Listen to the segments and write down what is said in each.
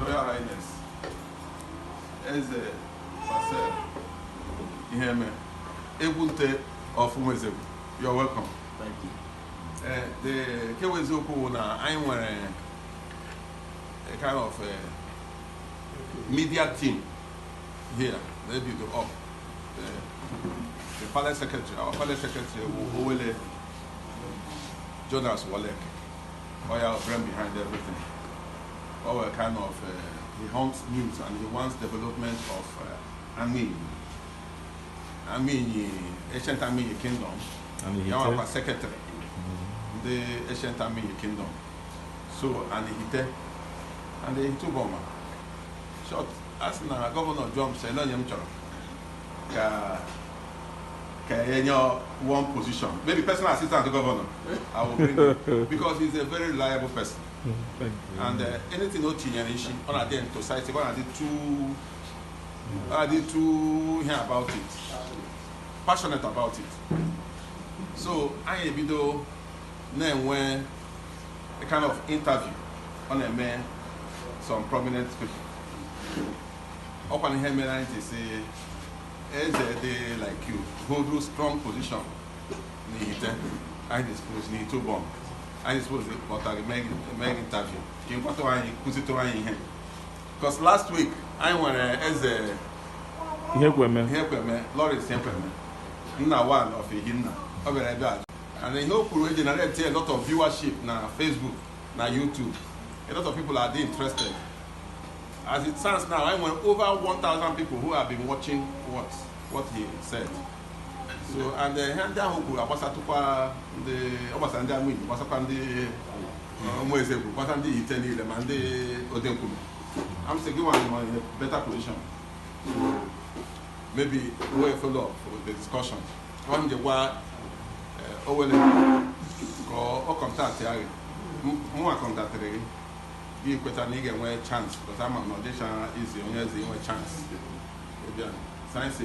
Royal Highness Eze Marcel Iheme egwu nte of Umuezegwu you're welcome Thank you. Eh, the nke bụ eziokwu bụ na anyị nwere a kind of a media team here they build up the, the palace secretary our palace secretary bụ Owele Jonas Walek ọ ya brain behind everything o nwere kind of uh, he hunts news and he wants development of uh, Anigbo Amainyi Ancient Amainyi Kingdom Amainyi ya wụkwa secretary ndị Ancient Amainyi Kingdom so and Ihite and Ihite Uboma short a sị na gọvanọ jụọ m sị ele onye m chọrọ ka ka e nye one position maybe personal assistant to governor I will bring him because he's a very reliable person and uh, anything o tinyere isi ọ na-adị emphasized ọ na-adị too adị too ihe about it passionate about it so anyị ebido na-enwe a kind of interview ọ na-eme some prominent people ọkwa na ihe mere anyị ji sị eze dị like you hold a strong position n'Ihite anyị dispose n'Ihite Uboma anyị dispose kpọtara mee interview ka ị gwatụ anyị kụzitụrụ anyị ihe Because last week anyị nwere Eze Ihekweme Ihekweme Lawrence Ihekweme Nna one of Ihinna ọ bịara ebe a and ihe o kwuru generate a lot of viewership na Facebook na YouTube a lot of people are dey interested as it stands now anyị nwere over 1000 people who have been watching what what he said so and eh, ihe ndị ahụ kwuru agbasatụkwa ndị ọ gbasara ndị amụ Igbo gbasakwa ndị Umuezegwu gbasa ndị Ihite niile ma ndị Odenkwume I'm saying you are in a better position maybe we follow up with the discussion ọ m ji gwa Owele ka ọ kọntaktịa gị mụnwa kọntaktịrị gị gị kweta na ị ga-enwe chance but ama m na ọ dịchaghị easy onye eze inwe chance ịbịa sayensị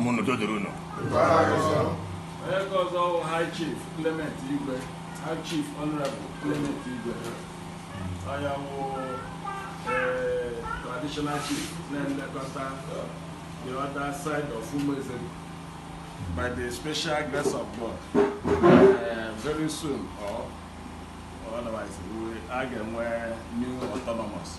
mụ n'udo dịrị unu onye nke ọzọ bụ high chief clement igwe high chief honorable clement igwe onye bụ eh, traditional chief na-elekọta the other side of umeze by the special grace of god eh, very soon or otherwise we- a ga-enwe new autonomous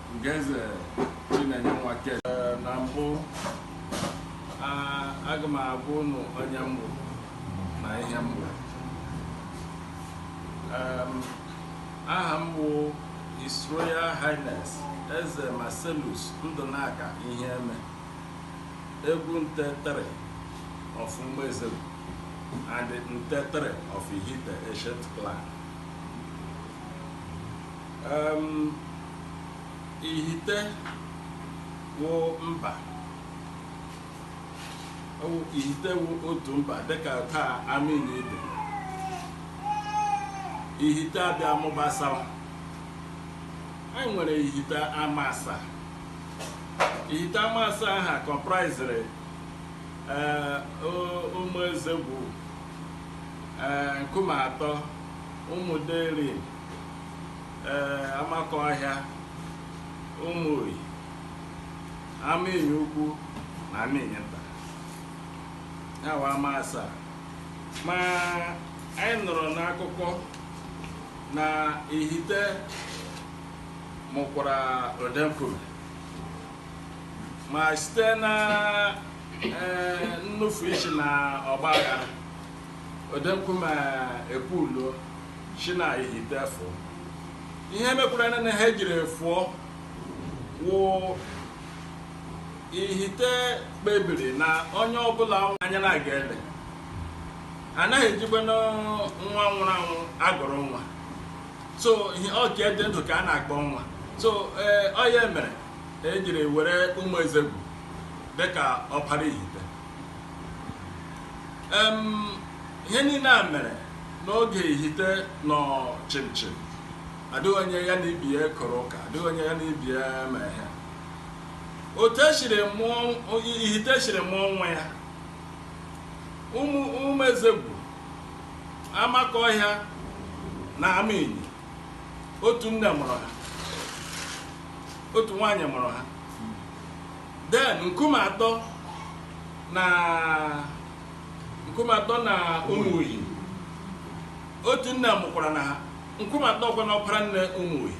Ugoeze Chinenye Nwake eh, na mbụ aga m agwa ụnụ onye m bụ na ihe m bụ aha m bụ His Royal Highness Eze Marcellus Ndụnaka Iheeme egwu nte tere of Umuezegwu and nte tere of Ihite Ancient Clan ihite wụ mba wụ ihite wụ otu mba dịka ka ama ndị ibe ihite abịa mụbasawa anyị nwere ihite ama asaa ihite ama asaa aha kọmpraiziri ee o- ụmụ ezegwu ee nkume atọ ụmụ derim ee amakọhịa ụmụihi amainyi ukwu na amainyi nta ha wụ ama asaa ma anyị nụrụ n'akụkọ na ihite mụkwara odenkwume ma site na ee, nnufu isi na ọgba aghara Odenkwume ekulie si na ihite fụọ ihe mekwara na na ha ejiri fụọ wụ ihite kpebiri na onye ọbụla anya na aga ele anaghị ejikwanụ nwa nwụrụ anwụ agụrụ nwa so ọ nke dị ndụ ka a na-akpọ nwa so ee ọ ya mere ejiri were ụmụ ezegwu dịka ọpara ihite ihe niile a mere n'oge ihite nọ chimchim adịghị onye ya na ibe ya kọrọ ụka adịghị onye ya na ibe ya ma ihe otu esiri mụọ ihite siri mụọ onwe ya ụmụ ụmụ ezegwu amakọhịa na amainyi otu nne mụrụ ha otu nwaanyị mụrụ ha Then Nkumeatọ na Nkumeatọ na Umuihi. Otu nne mụkwara na ha. Nkumeatọ kwa na ọpara nne Umuihi.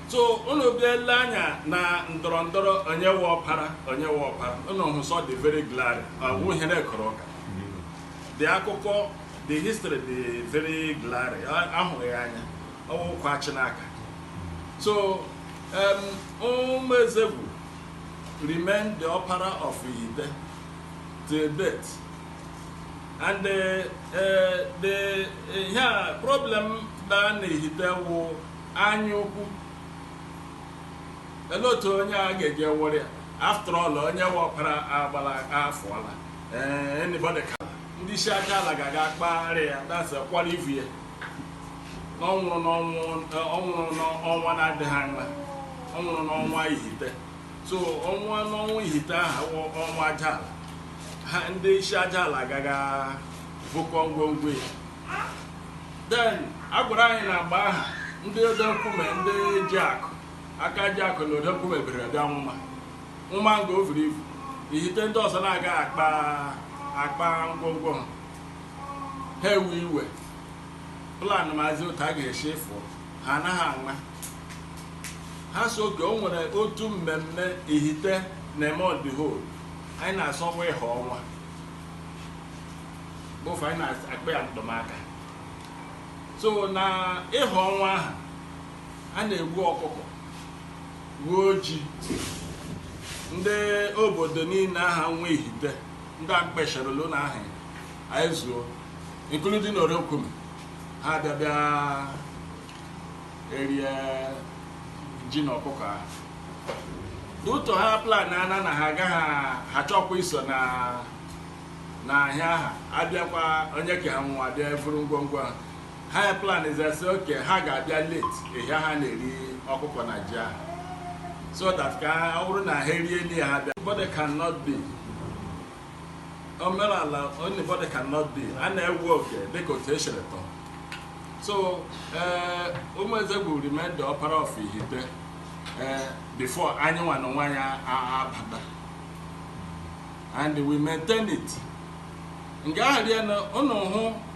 So unu bịa ele anya na ndọrọ ndọrọ onye wụ ọpara onye wụ ọpara unu hụ sị ọ dị very glaring ọ wụ ihe na-ekọrọ ụka. The akụkọ the history dị very glaring a- a hụrụ ya anya. ọ wụ okwu a chị n'aka so um, Ụmụezegwu remain the ọpara of Ihite till date and uh, uh, the ihe a problem dị na Ihite wụ anya ukwu lee otu onye a ga-eji wụrụ ya after all onye wụ ọpara agbala afọ ala ee anybody ka ndị isi aja ala ga-aga kpagharị ya that's a kwara ivu ya na ọ nwụrụ n'ọnwụ ọ nwụrụ n'ọnwa na-adịghị anya ọ nwụrụ n'ọnwa Ihite so ọ nwụọ n'ọnwa Ihite ahụ wụ ọnwa aja ala ha ndị isi aja ala ga-aga vukọọ ngwongwo ya then a gwara anyị n'agba ahụ ndị Odenkwume ndị ji akụ aka ji akụ na Odenkwume bere bịa nwụma nwụma nga o vuru ivu Ihite ndị ọzọ na-aga akpa akpa ngwongwo ha ha ewee iwe planụmazie otu a ga-esi ịfụ ha anaghị anwa ha so okay o nwere otu mmemme Ihite na-eme on the whole anyị na-asọ ọnwa ịha ọnwa bụ ihe anyị na-akpọ ya ndụmaka so na ịha ọnwa ahụ a na-egbu ọkụkọ gbuo ji ndị obodo niile ahụ nwe Ihite ndị a m kpọsharala aha anyị zuo including Odenkwume ha abịa bịa erie ji na ọkụkọ ahụ due to ha plan na ana na ha agaghị achọkwa iso na na ahịa ha abịakwa onye ke ha nwụọ abịa evuru ngwongwo ha ha ya plan sị okay ha ga-abịa late ihe a ha na-eri ọkụkọ na ji ahụ so that ka ọ bụrụ na ha erie nri ha bịa body cannot be omenala only body cannot be a na-ewe oke dịka otu e siri tọọ so ee Ụmụezegwu remain the ọpara of Ihite ee before anyị nwa na onwe anyị abata and we maintain it nke ahụ rie na ụnụ hụ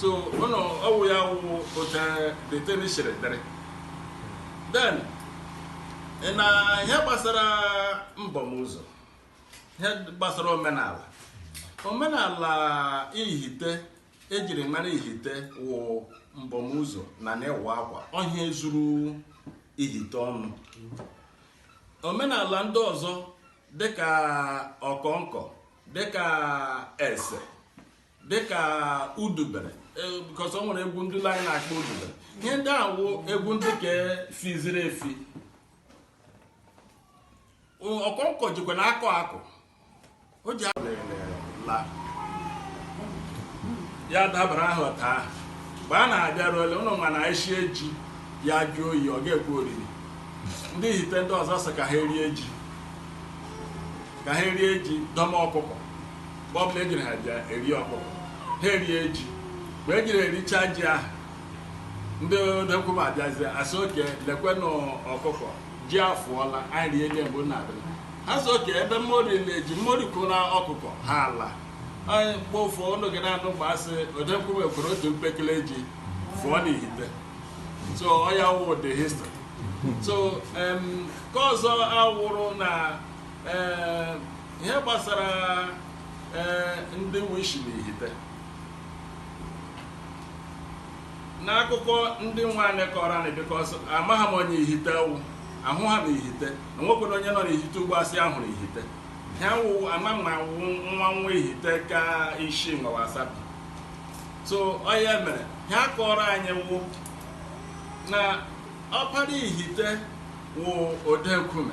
so ụnụ ọ wụ ya wụ otu the thing siri dịrị then na ihe gbasara mbọmụzọ ihe gbasara omenala omenala ihite ejiri mara ihite wụ mbọmụzọ na na ịwa akwa ọ ihe zuru ihite ọnụ omenala ndị ọzọ dịka ọkọnkọ dịka ese dịka udubere e, because ọ nwere egwu ndị anyị na-akpọ udubere ihe ndị a wụ egwu ndị ka fiziri efi ọkọnkọ jikwa na akọ akụ o ji la ya dabara ahụ taa mgbe a na-abịaruole ụlọ ma na eshie ji ya jụọ oyi ọ ga-ekwe oriri ndị ihite ndị ọzọ sị ka ha erie ji ka ha erie ji dọma ọkụkọ mgbe ọbụla ejiri ha ji eri ọkụkọ ha erie ji mgbe ejiri richaa ji ahụ ndị odenkume abịazie asị okay lekwenụ ọkụkọ ji afụọla anyị rie nye mgbe na-abịa ha sị okay ebe mmori na-eji mmori kwụra ọkụkọ ha ala anyị mgbe ụfọ unu ga na-anụ mgbe asị odenkume kere otu mpekele ji fụọ n'ihite so ọ ya wụ the history so em, nke ọzọ awụrụ na ee ihe gbasara ee ndị wụ ishi na ihite n'akụkọ ndị nwe anyị kọrọ anyị because amaghị m onye ihite wụ ahụghị m ihite o nwekwaghị onye nọ n'ihite ugbu a sị ya hụrụ ihite ha wụ ama m na awụ m nwa nwa ihite ka isi ngawa asabi so ọ ya mere ihe a kọrọ anyị wụ na Ọkpara Ihite wụ Odenkume.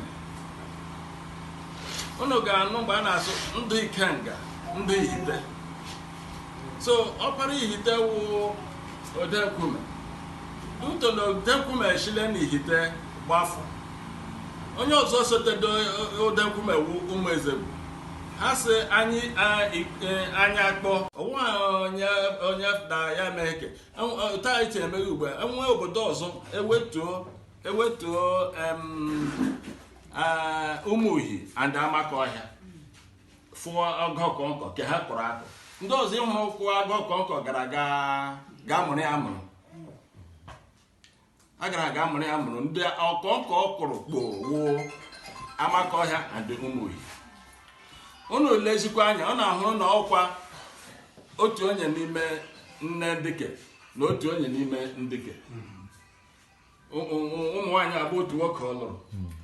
Unu ga-anụ mgbe a na-asị ndị Ikenga, ndị Ihite. So Ọkpara Ihite wụ Odenkume. Due to na Odenkume eshile na Ihite gbafụ. Onye ọzọ sotere Odenkume wụ Ụmụezegwu. Ha sị anyị a- i- e, anyị akpọ. Onwe onye onye na ya mee eke. otu anyị si emeghe ugbu a enwe obodo ọzọ ewetuo ewetuo em, ah, ụmụihi and amakọhịa fụọ egwu ọkọnkọ ka ha kụrụ akụ ndị ọzọ mụrụ ịkụ egwu ọkọnkọ gara ga ga mụrụ ya amụrụ a gara aga mụrụ ya mụrụ ndị ọkọ nke ọ kụrụ kpoo wụ Amakọhịa and Ụmụihi unu lezikwa anya unu ahụrụ na ọkwa otu onye n'ime nne ndị ke na otu onye n'ime ndị ke Ụ- ụ- ụ- ụmụ nwaanyị abụọ otu nwoke ọ lụrụ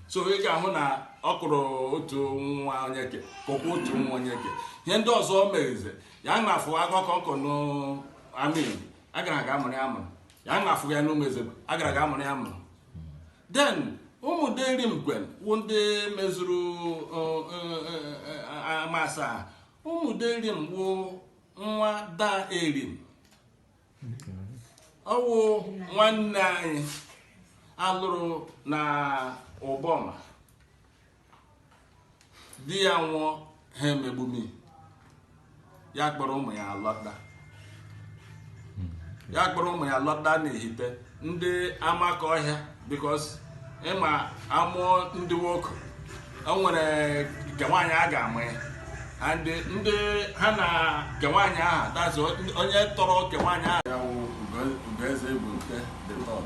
so ị ga-ahụ na ọ kụrụ otu nwa onye ke kụkwa otu nwa onye ke ihe ndị ọzọ o meghize ya na afụ akụkọ nkọ n'Amainyi a gara aga mụrụ ya mụrụ ya nwa afụghị ya na Ụmụezegwu a gara ga amụrụ ya mụrụ then Ụmụderim kwanụ wụ ndị mezuru ama asaa Ụmụderim wụ nwa Da Erim ọ wụ nwanne anyị a lụrụ na Uboma di ya nwụọ ha emegbume ya kpọrọ ụmụ ya lọta ya kpọrọ ụmụ ya lọta n'Ihite ndị Amakọhịa because ị ma a mụọ ndị nwoke o nwere nke nwaanyị a ga-ama ya and ndị ha na nke nwaanyị aha that's onye tọrọ nke nwaanyị aha ya wụ Ugoeze Igbo nke the third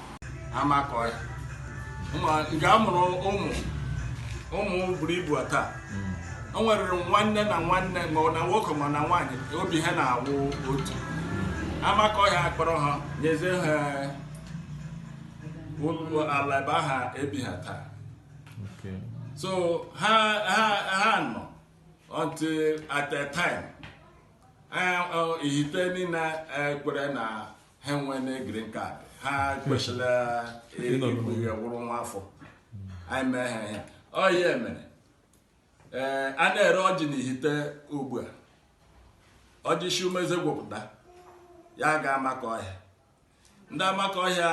Amakọhịa nga a mụrụ ụmụ ụmụ buru ibu taa o nwere nwanne na nwanne ma ọ na nwoke ma na nwaanyị obi ha na-awụ otu Amakọhịa akpọrọ ha nyezie ha ụlọ ala ebe aha ebi ha taa Okay. so ha ha ha nọ until at a time eh, oh, Ihite niile eh, kwere na ha enwene green card ha kwesịrị ịwụrụ nwa afọ anyị mee ha ihe ọ ya mere ee a na-ere ọjị na Ihite ugbu a ọjị si Ụmụezegwu pụta ya ga Amakọhịa ndị Amakọhịa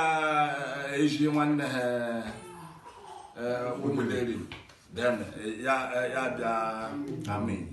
ezi nwanne ha Ụmụderim ya bịa Amainyi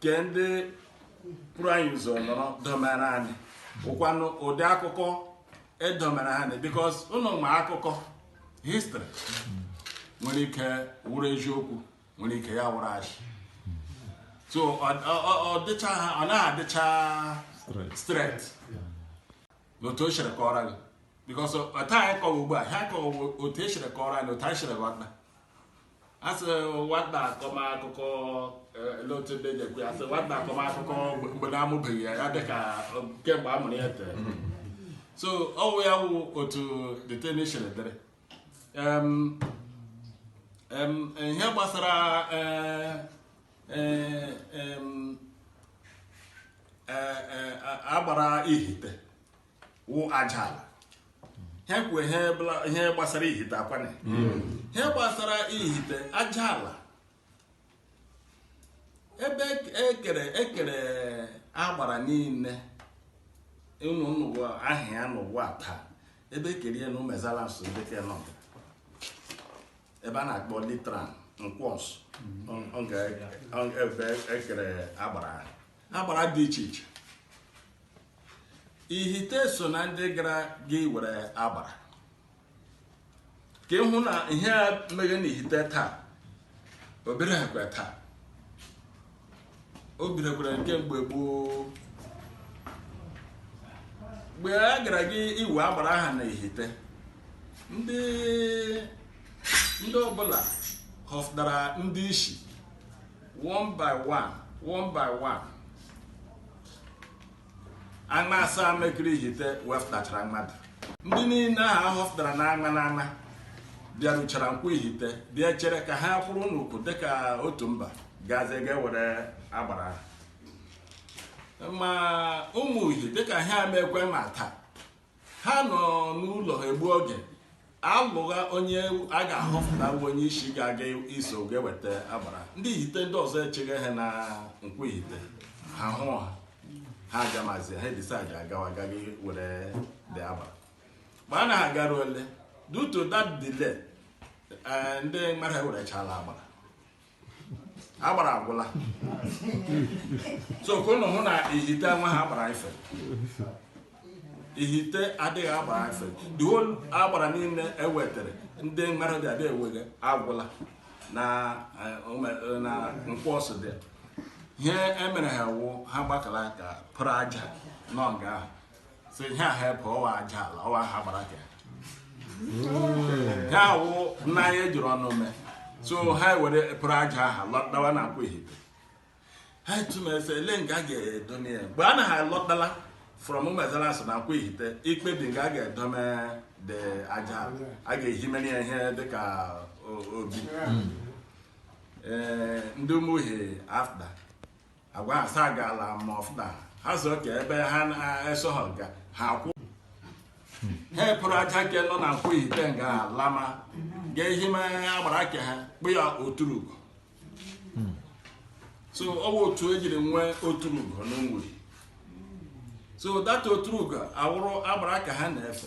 nke ndị buru anyị ụzọ nọrọ domere anyị ọkwanụ ụdị akụkọ e domere anyị because ụnụ ma akụkọ history nwere ike wụrụ eziokwu nwere ike ya wụrụ ashị so ọ dịcha ha ọ naghị adịcha straight otu e siri kọọrọ gị because otu anyị kọwa ugbu a ha kọwa otu e siri kọọrọ anyị otu anyị siri ghọta a sị nwata akọma akụkọ elee otu ndị na-ekwu ya a sị nwata akọma akụkọ mgbe a na-amụbeghị ya ya dị ka kemgbe a mụrụ ya tere so ọ wụ ya wụ otu the thing siri dịrị Em, em, ihe gbasara eh, eh, em, eh, eh, a- agbara Ihite wụ aja ala ha kwu ihe bla- ihe gbasara ihite akwana ihe gbasara ihite aja ala ebe ekere ekere agbara niile unu nụga aha ya n'ụwa taa ebe ekere ya na umuezeala nsu dịka n'ebe a na-akpọ litran nkwọ nsu ebe ekere agbara agbara dị iche iche ihite so na ndị gara ga iwere agbara ka ị hụ na ihe a meghe na ihite taa o bidoghịkwa taa o bidokwara nke mgbe gboo mgbe a gara ga iwe agbara ahụ na ihite ndị ndị ọbụla họpụtara ndị isi one by one one by one ama asaa mekiri ihite wepụtachara mmadụ ndị niile ahụ ahọpụtara na ama na ama bịaruchara nkwọ ihite bịa chere ka ha kwụrụ n'ukwu dịka otu mba gazie ga-ewere agbara ha. ma ụmụihi dịka ha meghekwe ma taa ha nọ n'ụlọ ha egbu oge alụgha onye a ga-ahọpụta bụ onye isi ga-aga iso ga-eweta agbara ndị ihite ndị ọzọ echeghe ha na nkwọ ihite ha hụ ha ha agamazi ha decide agawa ga iwere the agbara mgbe a na ha garuole due to that delay eh, ndị mmadụ ewerechala agbara agbara agwụla so ka ụnụ hụ na ihite nwaha agbara ife ihite adịghị agbara ife the whole agbara niile ewetere ndị mmadụ dị abịa ewega agwụla na eh, ome- na nkwọ nsu there ihe emere ha wụ ha gbakara aka pụrụ aja nọ nga ahụ so ihe ahụ ebe ọ wụ aja ala ọ wụha agbara ka ya awụ nna anyị ejiri ọnụ mee so ha were pụrụ aja ahụ lọtawa na nkwọ ihite ha atụmazie elo nga ga-edome ya mgbe a na ha lọtala from umuezeala nsu na nkwọ ihite ikpebi nga a ga-edome the aja ala a ga-ehimere ya ihe dịka o- obi ee ndị ụmụihi after agwa ha sa gaala ma ọfụna ha sị okay ebe ha na-esoha ga ha kwụ ha apụrụ aja ke nọ na nkwọ ihite nga lama ga ehime agbara ke ha kpọ ya oturugo so ọ bụ otu ejiri nwee oturugo n'Umuihi so that oturugo awụrụ agbara ke ha na-efe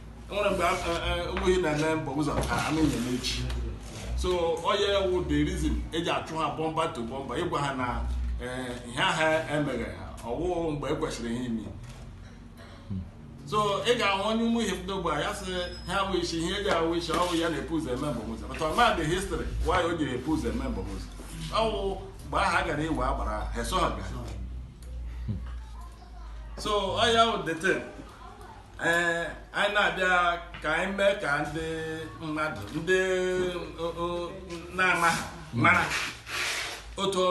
enwere mgbe ụmụihi na-eme mbọm ụzọ ka a na-enye echi so ọya wụ the reason eji achụ ha bumper to bumper ịgwa ha na ihe aha emeghe ha ọwụ mgbe e kwesịrị ihe ime so ị ga-ahụ onye ụmụihi ndị ogbe ya sị ha awụ isi ihe eji awụ isi ọwụ ya na-epu ụzọ eme mbọm ụzọ but ọma the history why o jiri epu ụzọ eme mbọm ụzọ ọwụ mgbe aha gara iwe agbara ha eso ha gara so ọya wụ the thing ee eh, anyị na-abịa ka anyị mee ka ndị mmadụ ndị na-amaghị mara otu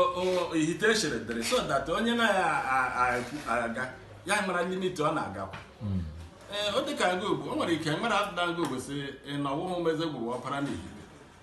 ihite siri dịrị so that onye na-agagha aga ya mara limit ọ na-agakwa hmm. ee eh, ọ dịka aga ugwu o nwere ike nwere afụda aga ugwu sị na ọwụ ụmụezegwu wụ ọpara n'ihite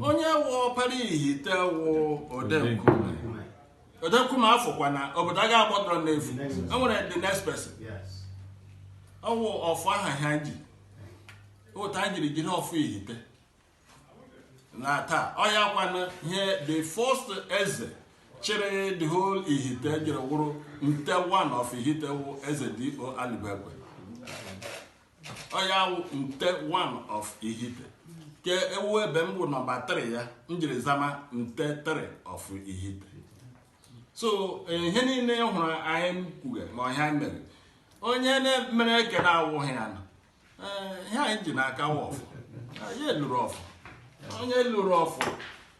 onye wụ ọpara ihite wụ odenkume odenkume afọkwa na obodo a ga-agbọdọrọ n'efu enwere the next person ọwụ ọfọ aha ha ji ụta anyị jiri jiri ọfọ ihite na taa ọya kwana ihe the first eze chịrị the whole ihite jiri wụrụ nte one of ihite wụ eze d o aligwekwe ọya wụ nte one of ihite ke ọwụ ebe m bụ number 3 ya m jiri zama nte 3 of ihite so ihe niile ị hụrụ anyị kwuge ma ọhịa anyị mere onye na-emere ke na-awụghị ya nọ Ee, ihe anyị ji n'aka wụ ọfọ anyị lụrụ ọfọ onye lụrụ ọfọ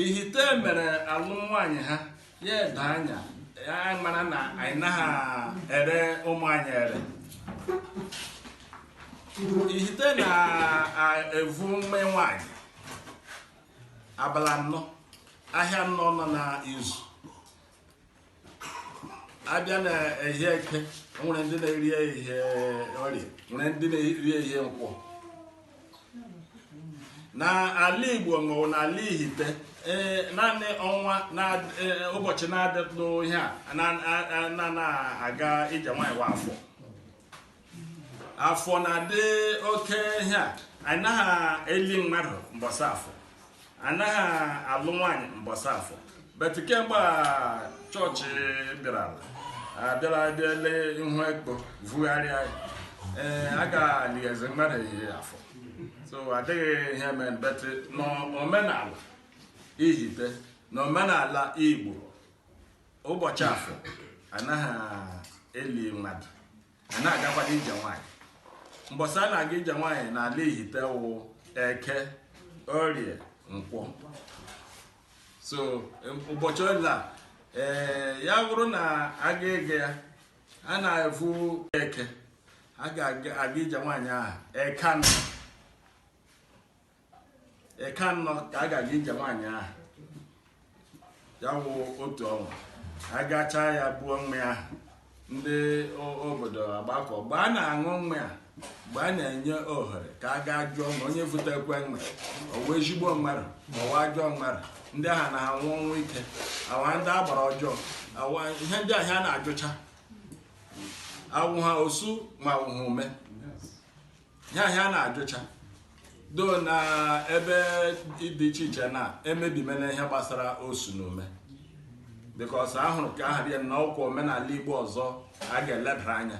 ihite mere alụ nwaanyị ha ya edo anya ya mara na anyị naghị ere ụmụ anyị ere ihite na-evu mme nwaanyị abalị anọ ahịa nnọ nọ na izu abịa na ehie eke nwere ndị na-eri ehie orie nwere ndị na-eri ehie nkwọ na ala igbo maọbụ na ala ihite ee naanị ọnwa na ee, ụbọchị na-adịtụ ihe a na- a- a- na-aga ije nwaanyị wụ afọ afọ na-adị oke ihe a anyị naghị eli mmadụ mbọsị afọ anaghị alụ nwaanyị mbọsị afọ but kemgbe church bịara abịara bịale ihu ekpo vugharịa ee a ga-alighezi mmadụ ehihie afọ so adịghị ihe mere but n'omenala ihite n'omenala igbo ụbọchị afọ anaghị eli mmadụ a na-agakwado ije nwaanyị mbọsị a na-aga ije nwaanyị n'ala ihite wụ eke orie nkwọ so em, ụbọchị ole a ee ya bụrụ na a ga-eje ya a na-efu eke a ga-aga ije nwaanyị ahụ eke anọ eke anọ ka a ga-aga ije nwaanyị ahụ ya wụ otu ọnwa agacha ya buo mmanya ahụ ndị o- obodo agbakọ mgbe a na-aṅụ mmanya mgbe a na-enye ohere ka a gaa jụọ ma onye vutekwe mmanya ọwa ezigbo mmadụ ọwa ajọ mmadụ ndị ahụ na-anwụ ọnwụ ike awụ ha ndị agbara ọjọọ awa ihe ndị ahụ a na-ajụcha awụ ha osu ma awụ ha ume ya ihe a na-ajụcha though na ebe dị iche iche na emebimena ihe gbasara osu na ume because ahụrụ ka aha dị na ọkwa omenala igbo ọzọ a ga-elebara anya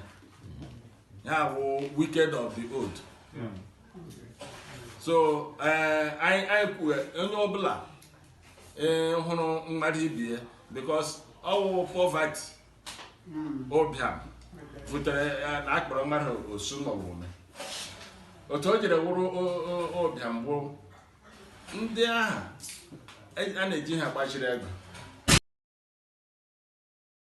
ya bụ wicked of the old so eh, anyị anyị kwuo onye ọbụla eh, hụrụ mmadụ ibe ya because ọ wụ poverty ụbịam butere ya na a kpọrọ mmadụ osu maọbụ ume otu o jiri wụrụ o- o- ụbịam bụ ndị ahụ e- a na-eji ha gbaziri ego